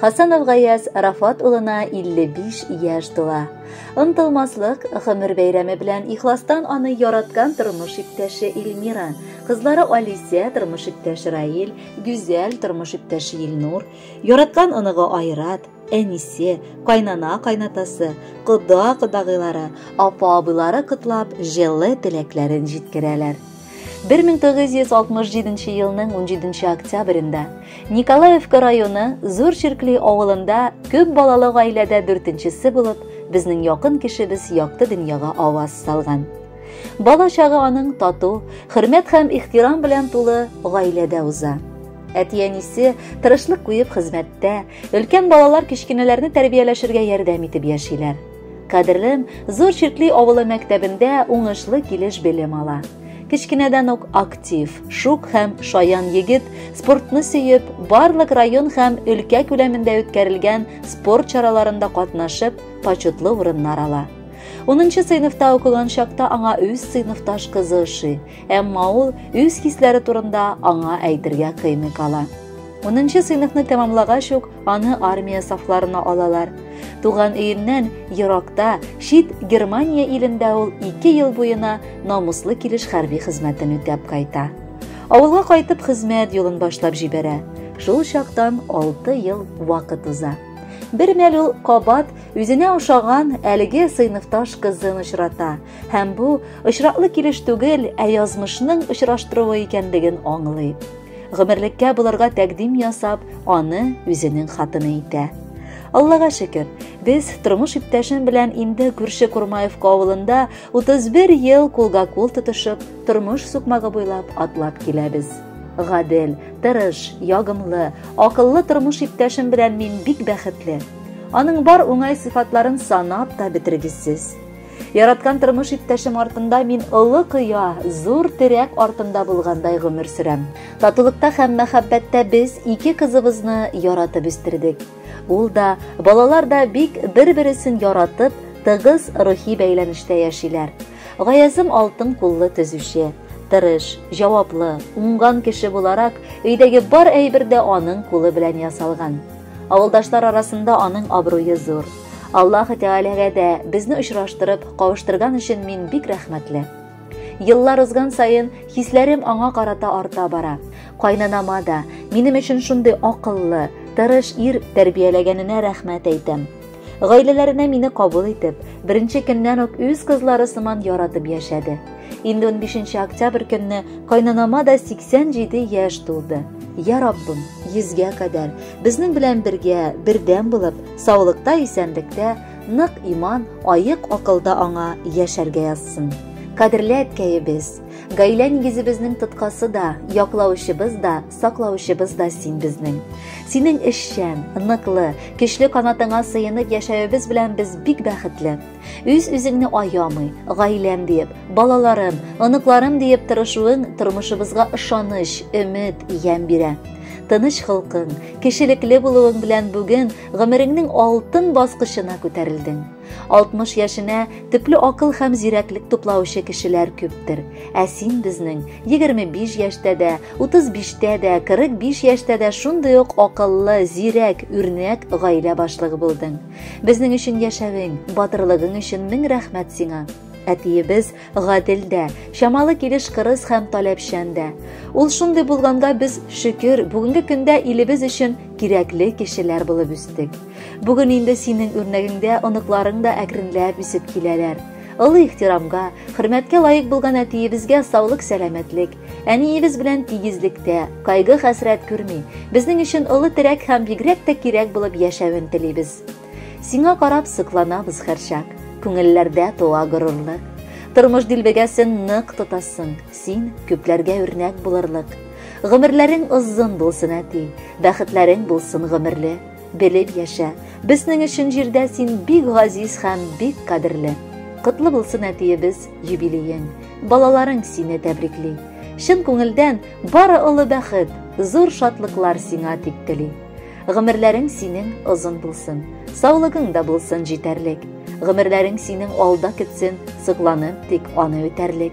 Хасанов Гаяз Рафат улына 55 яшь тула. Онтылмаслык гомер бәйрәме белән ихластан аны яраткан тормыш иптәше Эльмира, кызлары Алисия, тормыш иптәше Раил, Гүзәл, тормыш иптәше Илнур, яраткан оныгы Айрат, әнисе, кайнана кайнатасы, кода кодагыйлары, апа абыйлары котлап, җылы теләкләрен җиткерәләр. 1967 елның 17 октябрендә Николаевка районы Зур Черкли авылында күп балалы гаиләдә дүртенчесе булып безнең якын кешебез якты дөньяга аваз салган. Бала чагы аның тату, хөрмәт һәм ихтирам белән тулы гаиләдә уза. Әти-әнисе тырышлык куеп хезмәттә, өлкән балалар кечкенәләрне тәрбияләшергә ярдәм итеп яшиләр. Кадерлем, Зур Чиркли авылы мәктәбендә уңышлы килеш белем ала. Кечкенәдән үк актив, шук һәм шаян егет спортны сөеп, барлык район һәм өлкә күләмендә үткәрелгән спорт чараларында катнашып, почетлы урыннар ала. 10 сыйныфта укыган чакта аңа үз сыйныфташ кызы ошый. Әмма ул үз хисләре турында аңа әйтергә кыймый кала. 10нчы сыйныфны тәмамлагач ук аны армия сафларына алалар. Туган өеннән еракта, чит Германия илендә ул 2 ел буена намуслы килеш хәрби хезмәтен үтәп кайта. Авылга кайтып хезмәт юлын башлап җибәрә. Шул чактан 6 ел вакыт уза. Бер мәл ул кабат үзенә ошаган әлеге сыйныфташ кызын очрата. Һәм бу очраклы килеш түгел, ә язмышның очраштыруы икәнлеген аңлый. Гомерлеккә булырга тәкъдим ясап, аны үзенең хатыны итә. Аллага шөкер, без тормыш иптәшем белән инде күрше Курмаевка авылында 31 ел кулга-кул тотышып, тормыш сукмагы буйлап атлап киләбез. Гадел, тырыш, ягымлы, акыллы тормыш иптәшем белән мин бик бәхетле. Аның бар уңай сыйфатларын санап та бетергесез. Яраткан тормыш иптәшем артында мин олы кыя, зур терәк артында булгандай гомер сөрәм. Татулыкта һәм мәхәббәттә без ике кызыбызны яратып үстердек. Ул да, балалар да бик бер-бересен яратып, тыгыз рухи бәйләнештә яшиләр. Гаязым алтын куллы төзүче, тырыш, җаваплы, уңган кеше буларак, өйдәге бар әйбер дә аның кулы белән ясалган. Авылдашлар арасында аның абруе зур. Аллаһы Тәгаләгә дә безне очраштырып, кавыштырган өчен мин бик рәхмәтле. Еллар узган саен хисләрем аңа карата арта бара. Кайнанама да минем өчен шундый акыллы, тырыш ир тәрбияләгәненә рәхмәт әйтәм. Гаиләләренә мине кабул итеп, беренче көннән үк үз кызлары сыман яратып яшәде. Инде 15 октябрь көнне кайнанама да 87 яшь тулды. Я Раббым, йөзгә кадәр безнең белән бергә, бердәм булып, саулыкта, исәнлектә, нык иман, аек акылда аңа яшәргә язсын. Кадерле әткәебез, гаилә нигезебезнең тоткасы да, яклаучыбыз да Саклаучыбыз да син безнең. Синең эшчән, ныклы, көчле канатыңа сыенып яшәвебез белән без бик бәхетле. Үз үзеңне аямый, гаиләм диеп, балаларым, оныкларым диеп тырышуың тормышыбызга ышаныч, өмет, ямь бирә. Тыныч холкың, кешелекле булуың белән бүген гомереңнең алтын баскычына күтәрелдең. 60 яшенә төпле акыл һәм зирәклек туплаучы кешеләр күптер. Ә син безнең 25 яшьтә дә, 35-тә дә, 45 яшьтә дә шундый ук акыллы, зирәк, үрнәк гаилә башлыгы булдың. Безнең өчен яшәвең, батырлыгың өчен мең рәхмәт сиңа. Әтиебез гадел дә, чамалы килеш кырыс һәм таләпчән дә. Ул шундый булганга без, шөкер, бүгенге көндә илебез өчен кирәкле кешеләр булып үстек. Бүген инде синең үрнәгеңдә оныкларың да әкренләп үсеп киләләр. Олы ихтирамга, хөрмәткә лаек булган әтиебезгә саулык сәламәтлек, әниебез белән тигезлектә, кайгы хәсрәт күрми, безнең өчен олы терәк һәм бигрәк тә кирәк булып яшәвен телибез. Сиңа карап сыкланабыз һәрчак, күңелләрдә туа горурлык. Тормыш дилбегәсен нык тотасың, син күпләргә үрнәк булырлык. Гомерләрең озын булсын, әти, бәхетләрең булсын гомерле. Белеп яшә. Безнең өчен җирдә син бик газиз һәм бик кадерле. Котлы булсын әтиебез юбилеең. Балаларың сине тәбрикли. Чын күңелдән бары олы бәхет, зур шатлыклар сиңа дип тели. Гомерләрең синең озын булсын. Саулыгың да булсын җитәрлек. Гомерләрең синең алда китсен, сокланып тик аны үтәрлек.